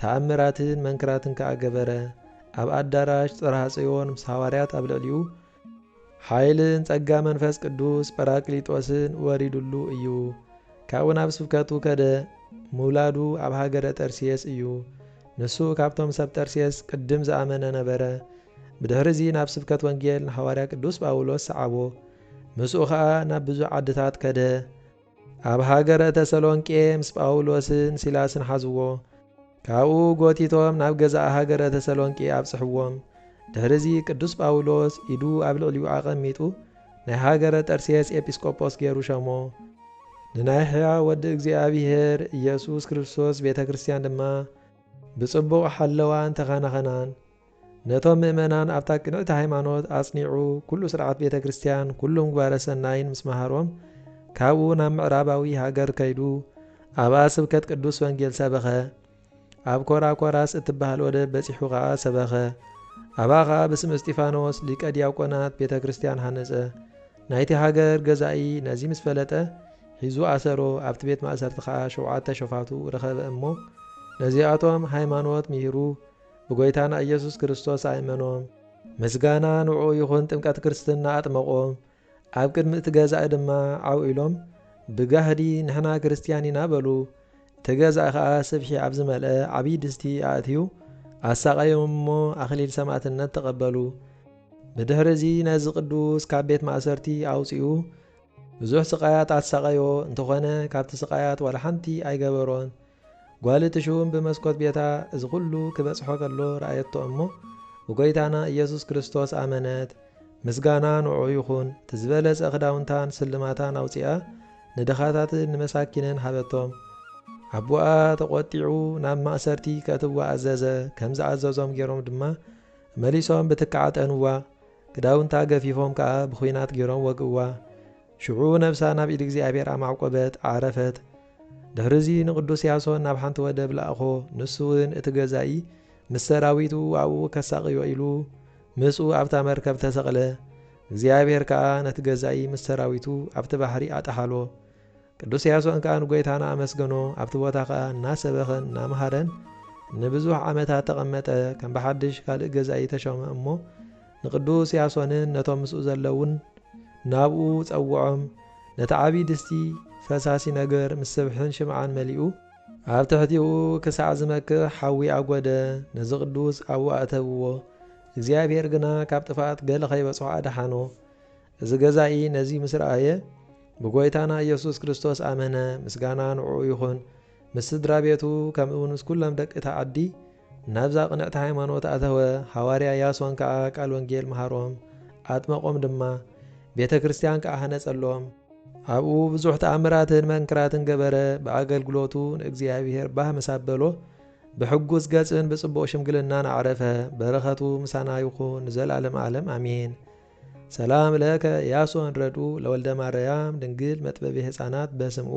ተኣምራትን መንክራትን ከኣ ገበረ፣ ኣብ ኣዳራሽ ጽርሃ ጽዮን ምስ ሃዋርያት ኣብ ልዕሊኡ ሓይልን ጸጋ መንፈስ ቅዱስ ጰራቅሊጦስን ወሪዱሉ እዩ፣ ካብኡ ናብ ስብከቱ ከደ፣ ምውላዱ ኣብ ሃገረ ጠርሴስ እዩ፣ ንሱ ካብቶም ሰብ ጠርሴስ ቅድም ዝኣመነ ነበረ፣ ብድሕሪ'ዚ ናብ ስብከት ወንጌል ንሓዋርያ ቅዱስ ጳውሎስ ሰዓቦ፣ ምስኡ ከኣ ናብ ብዙሕ ዓድታት ከደ፣ ኣብ ሃገረ ተሰሎንቄ ምስ ጳውሎስን ሲላስን ሓዝዎ፣ ካብኡ ጎቲቶም ናብ ገዛእ ሃገረ ተሰሎንቄ ኣብጽሕዎም። ድሕርዚ ቅዱስ ጳውሎስ ኢዱ ኣብ ልዕሊኡ ኣቐሚጡ ናይ ሃገረ ጠርሴስ ኤጲስቆጶስ ገይሩ ሸሞ። ንናይ ሕያው ወዲ እግዚኣብሔር ኢየሱስ ክርስቶስ ቤተ ክርስቲያን ድማ ብጽቡቕ ሓለዋን ተኻናኸናን። ነቶም ምእመናን ኣብታ ቅንዕቲ ሃይማኖት ኣጽኒዑ ኩሉ ስርዓት ቤተ ክርስቲያን ኩሉ ምግባረ ሰናይን ምስ መሃሮም ካብኡ ናብ ምዕራባዊ ሃገር ከይዱ ኣብኣ ስብከት ቅዱስ ወንጌል ሰበኸ። ኣብ ኮራኮራስ እትበሃል ወደብ በጺሑ ከኣ ሰበኸ። ኣብኣ ከኣ ብስም እስጢፋኖስ ሊቀ ዲያቆናት ቤተ ክርስቲያን ሃነጸ። ናይቲ ሃገር ገዛኢ ነዚ ምስ ፈለጠ ሒዙ ኣሰሮ፣ ኣብቲ ቤት ማእሰርቲ ከኣ ሸውዓተ ሸፋቱ ረኸበ እሞ ነዚኣቶም ሃይማኖት ምሂሩ ብጎይታና ኢየሱስ ክርስቶስ ኣእመኖም ምስጋና ንዕኡ ይኹን ጥምቀት ክርስትና ኣጥመቖም ኣብ ቅድሚ እቲ ገዛኢ ድማ ዓው ኢሎም ብጋህዲ ንሕና ክርስትያን ኢና በሉ እቲ ገዛኢ ከኣ ስብሒ ኣብ ዝመልአ ዓብዪ ድስቲ ኣእትዩ ኣሳቐዮም እሞ ኣኽሊል ሰማእትነት ተቐበሉ ብድሕሪ እዚ ነዚ ቅዱስ ካብ ቤት ማእሰርቲ ኣውጺኡ ብዙሕ ስቃያት ኣሳቐዮ እንተኾነ ካብቲ ስቃያት ዋላ ሓንቲ ኣይገበሮን ጓል እቲ ሹም ብመስኮት ቤታ እዚ ዅሉ ኪበጽሖ ከሎ ረኣየቶ እሞ፣ ብጐይታና ኢየሱስ ክርስቶስ ኣመነት። ምስጋና ንዕኡ ይኹን። እቲ ዝበለጸ ኽዳውንታን ስልማታን ኣውጺኣ፣ ንድኻታትን ንመሳኪንን ሃበቶም። ኣቦኣ ተቖጢዑ ናብ ማእሰርቲ ከእትውዋ ኣዘዘ፣ ከም ዝኣዘዞም ገይሮም ድማ መሊሶም ብትክዕ ኣጠንዋ፣ ክዳውንታ ገፊፎም ከኣ ብዂናት ገይሮም ወግእዋ። ሽዑ ነብሳ ናብ ኢድ እግዚኣብሔር ኣማዕቈበት፣ ዓረፈት። ድሕርዚ ንቕዱስ ያሶን ናብ ሓንቲ ወደብ ለኣኾ፣ ንሱውን እቲ ገዛኢ ምስ ሰራዊቱ ኣብኡ ከሳቕዮ ኢሉ ምስኡ ኣብታ መርከብ ተሰቕለ። እግዚኣብሔር ከኣ ነቲ ገዛኢ ምስ ሰራዊቱ ኣብቲ ባሕሪ ኣጠሓሎ። ቅዱስ ያሶን ከኣ ንጐይታና ኣመስገኖ፣ ኣብቲ ቦታ ከኣ እናሰበኸን እናመሃረን ንብዙሕ ዓመታት ተቐመጠ፣ ከም ብሓድሽ ካልእ ገዛኢ ተሾመ እሞ፣ ንቅዱስ ያሶንን ነቶም ምስኡ ዘለዉን ናብኡ ጸውዖም፣ ነቲ ዓብዪ ድስቲ ፈሳሲ ነገር ምስ ስብሕን ሽምዓን መሊኡ፣ ኣብ ትሕቲኡ ክሳዕ ዝመክሕ ሓዊ ኣጐደ፣ ነዚ ቅዱስ ኣብኡ ኣእተብዎ፣ እግዚኣብሄር ግና ካብ ጥፍኣት ገለ ኸይበጽሖ ኣድሓኖ። እዚ ገዛኢ ነዚ ምስ ረኣየ፣ ብጐይታና ኢየሱስ ክርስቶስ ኣመነ፣ ምስጋና ንዕኡ ይኹን፣ ምስ ስድራ ቤቱ ከምኡውን ምስ ኵሎም ደቂ እታ ዓዲ፣ ናብዛ ቅንዕቲ ሃይማኖት ኣተወ፣ ሃዋርያ ያሶን ከኣ ቃል ወንጌል መሃሮም፣ ኣጥመቖም ድማ፣ ቤተ ክርስቲያን ከኣ ሃነጸሎም። ኣብኡ ብዙሕ ተኣምራትን መንክራትን ገበረ፣ ብኣገልግሎቱ ንእግዚኣብሔር ባህ ምስ ኣበሎ፣ ብሕጉስ ገጽን ብጽቡቕ ሽምግልናን ኣዕረፈ፣ በረኸቱ ምሳና ይኹን ንዘልኣለመ ኣለም ኣሜን። ሰላም ለከ ያሶን ረድኡ ለወልደማረያም ድንግል መጥበቢ ሕፃናት በስምኡ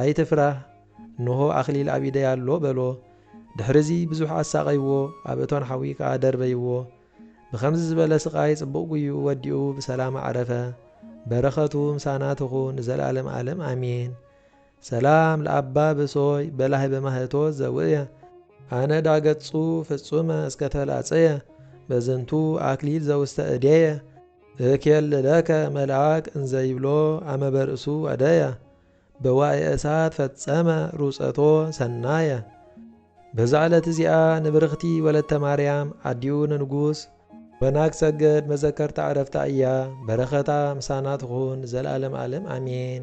ኣይትፍራህ፣ እንሆ ኣኽሊል ኣብ ኢደይ ኣሎ፣ በሎ። ድሕርዚ ብዙሕ ኣሳቐይዎ፣ ኣብ እቶን ሓዊ ከኣ ደርበይዎ። ብኸምዚ ዝበለ ስቓይ ጽቡቕ ጉይኡ ወዲኡ ብሰላም ኣዕረፈ። በረኸቱ ምሳና ትኹን ንዘለኣለም ኣለም ኣሜን። ሰላም ለኣባ ብሶይ በላህበ ማህቶት ዘውእየ። ኣነ ዳእ ገጹ ፍጹመ እስከ ተላጸየ በዝንቱ ኣክሊል ዘውስተ እዴየ። እኬልለከ መልኣክ እንዘ ይብሎ ኣመ በርእሱ ኣደየ። በዋዒ እሳት ፈጸመ ሩጸቶ ሰናየ። በዛ ዕለት እዚኣ ንብርኽቲ ወለተ ማርያም ኣዲኡ ንንጉስ። መናግ ሰገድ መዘከርታ ዕረፍታ እያ። በረኸታ ምሳና ትኹን ንዘልኣለም ኣለም ኣሜን።